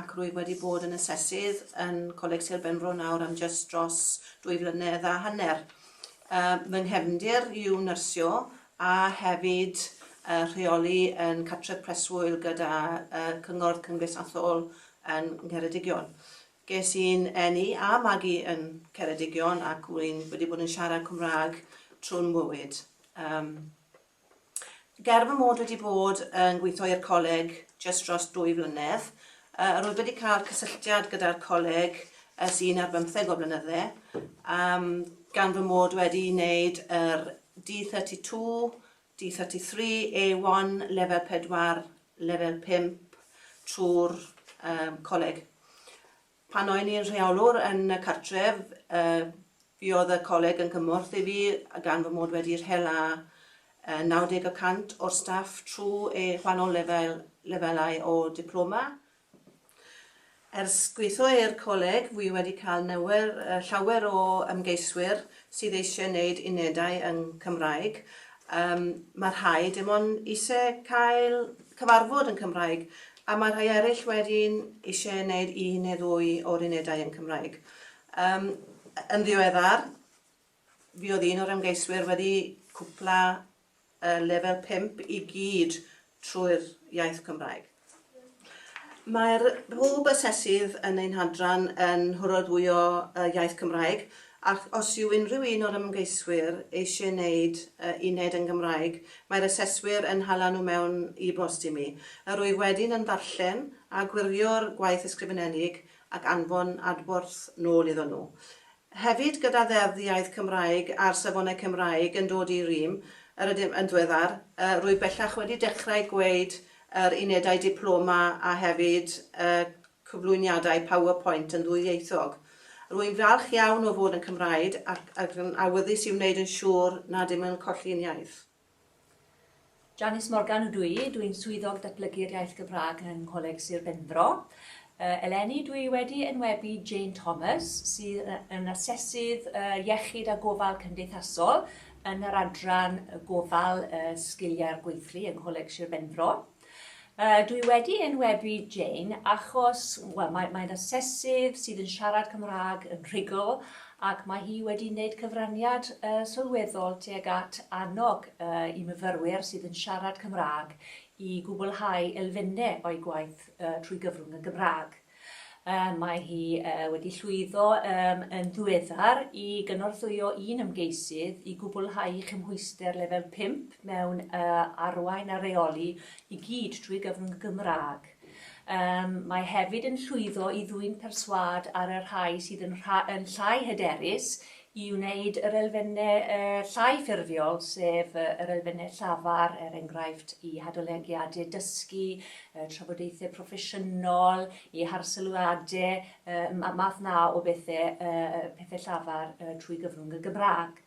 ac rwyf wedi bod yn asesydd yn Coleg Sir Benfro nawr am jyst dros dwy flynedd a hanner. Uh, fy nghefndir yw nyrsio a hefyd uh, rheoli yn Catref Preswyl gyda uh, Cyngor Cymdeithasol yn Ngheredigion. Ges i'n enni a magu yn Ceredigion ac rwy'n wedi bod yn siarad Cymraeg trwy'n mywyd. Um, Ger fy mod wedi bod yn gweithio i'r coleg jyst dros dwy flynedd, rwyf wedi cael cysylltiad gyda'r coleg ers un ar bymtheg o flynydde, gan fy mod wedi wneud yr D32, D33, A1, lefel 4, lefel 5 trwy'r coleg. Pan o'n i'n rheolwr yn y cartref, fi oedd y coleg yn gymorth i fi gan fy mod wedi rhel â 90 y cant o'r staff trwy eu gwahanol lefel, lefelau o diploma. Ers gweithio i'r coleg, fi wedi cael newyr, llawer o ymgeiswyr sydd eisiau gwneud unedau yng Nghymraeg. Mae rhai dim ond eisiau cael cyfarfod yn Cymraeg, A mae rhai eraill wedyn eisiau wneud un neu ddwy o'r unedau yn Cymraeg. Yym, yn ddiweddar, fi oedd un o'r ymgeiswyr wedi cwpla y lefel 5 i gyd trwy'r iaith Cymraeg. Mae'r pob asesydd yn ein hadran yn hwrordwyo y iaith Cymraeg, Ac os yw unrhyw un o'r ymgeiswyr eisiau gwneud y uned yn Gymraeg, mae'r aseswyr yn hala nhw mewn e-bost i mi. Yr wyf wedyn yn darllen a gwirio'r gwaith ysgrifenedig ac anfon adborth nôl iddon nhw. Hefyd, gyda Ddeddf Iaith Cymraeg a'r Safonau Cymraeg yn dod i rym, yr ydym yn ddiweddar, rwyf bellach wedi dechrau gwneud yr unedau diploma a hefyd y cyflwyniadau PowerPoint yn ddwyieithog. Rwy'n falch iawn o fod yn Cymraeg ac ac yn awyddus i wneud yn siŵr nad ydym yn colli'n iaith. Janice Morgan ydw i, dw i'n Swyddog Datblygu'r Iaith Gymraeg yng Ngholeg Sir Benfro. Uh, eleni, dw i wedi enwebu Jane Thomas, sydd yn asesydd uh, iechyd a gofal cymdeithasol yn yr adran gofal uh, sgiliau'r gweithlu yng Ngholeg Sir Benfro. Yy, dwi wedi enwebu Jane achos, wel, mae, mae'n asesydd sydd yn siarad Cymraeg yn rhugl ac mae hi wedi wneud cyfraniad uh, sylweddol tuag at annog uh, i myfyrwyr sydd yn siarad Cymraeg i gwblhau elfennau o'i gwaith uh, trwy gyfrwng y Gymraeg. Mae hi wedi llwyddo yn ddiweddar i gynorthwyo un ymgeisydd i gwblhau chymhwyster lefel pump mewn Arwain a Rheoli i gyd trwy gyfrwng y Gymraeg. Mae hefyd yn llwyddo i ddwyn perswâd ar y rhai sydd yn llai hyderus i wneud yr elfennau llai ffurfiol, sef yr elfennau llafar, er enghraifft, i hadolygiadau dysgu, trafodaethau proffesiynol, i harsylwadau, y math 'na o bethau, pethau llafar trwy gyfrwng y Gymraeg.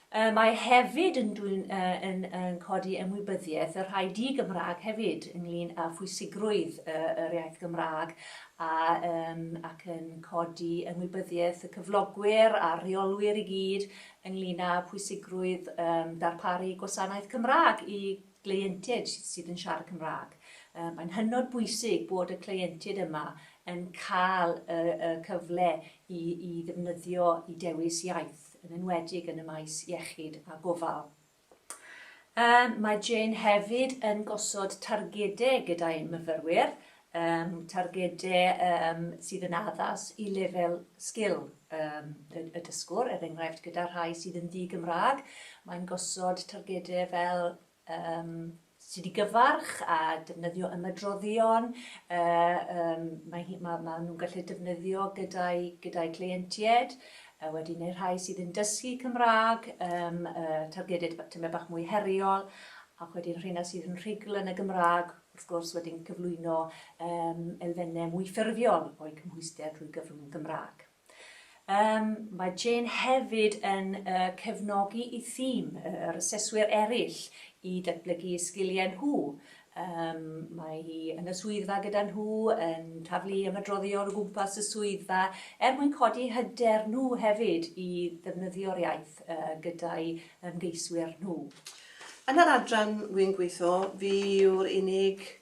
Mae hefyd yn dwyn yn codi ymwybyddiaeth y rhai di-Gymraeg hefyd ynglyn â phwysigrwydd yr iaith Gymraeg a yn ac yn codi ymwybyddiaeth y cyflogwyr a'r rheolwyr i gyd ynglŷn â phwysigrwydd um, darparu gwasanaeth Cymraeg i gleientiaid sydd yn siarad Cymraeg. Um, mae'n hynod bwysig bod y cleientiaid yma yn cael y, y cyfle i, i ddefnyddio i dewis iaith, yn enwedig yn y maes iechyd a gofal. Mae Jane hefyd yn gosod targedau gyda'i myfyrwyr, targedau sydd yn addas i lefel sgil y dysgwr, er enghraifft gyda rhai sydd yn ddi-Gymraeg, mae'n gosod targedau fel sydd i gyfarch a defnyddio ymadroddion yym mae hi ma' ma' nhw'n gallu defnyddio gyda'i gyda'i cleientied yy wedyn neu' rhai sydd yn dysgu Cymrâg yym yy targeded b- tymed bach mwy heriol ac wedyn rheina sydd yn rhugl yn y Gymrâg wrth gwrs wedyn cyflwyno yym elfenne mwy ffurfiol o'i cymhwyster drwy gyfrwng y Gymrâg. Yym, mae Jane hefyd yn cefnogi y thîm, yr aseswyr eraill, i datblygu eu sgiliau nhw. Yym, mae hi yn y swyddfa gyda nhw, yn taflu ymadroddion o gwmpas y swyddfa, er mwyn codi hyder nhw hefyd i ddefnyddio'r iaith gyda'i ymgeiswyr nhw. Yn yr adran wi'n gweithio, fi yw'r unig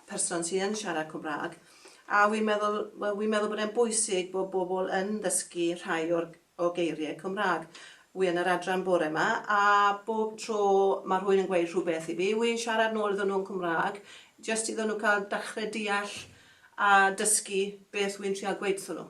person sy yn siarad Cymraeg, a wi'n meddwl, wel, wi'n meddwl bod e'n bwysig bod bobl yn dysgu rhai o'r o geiriau Cymraeg. Wi yn yr adran bore yma, a bob tro mae rhywun yn gweud rhywbeth i fi, wi'n siarad nôl iddyn nhw'n Cymraeg, jyst iddyn nhw cael dechrau deall a dysgu beth wi'n trial gweud wrthyn nhw.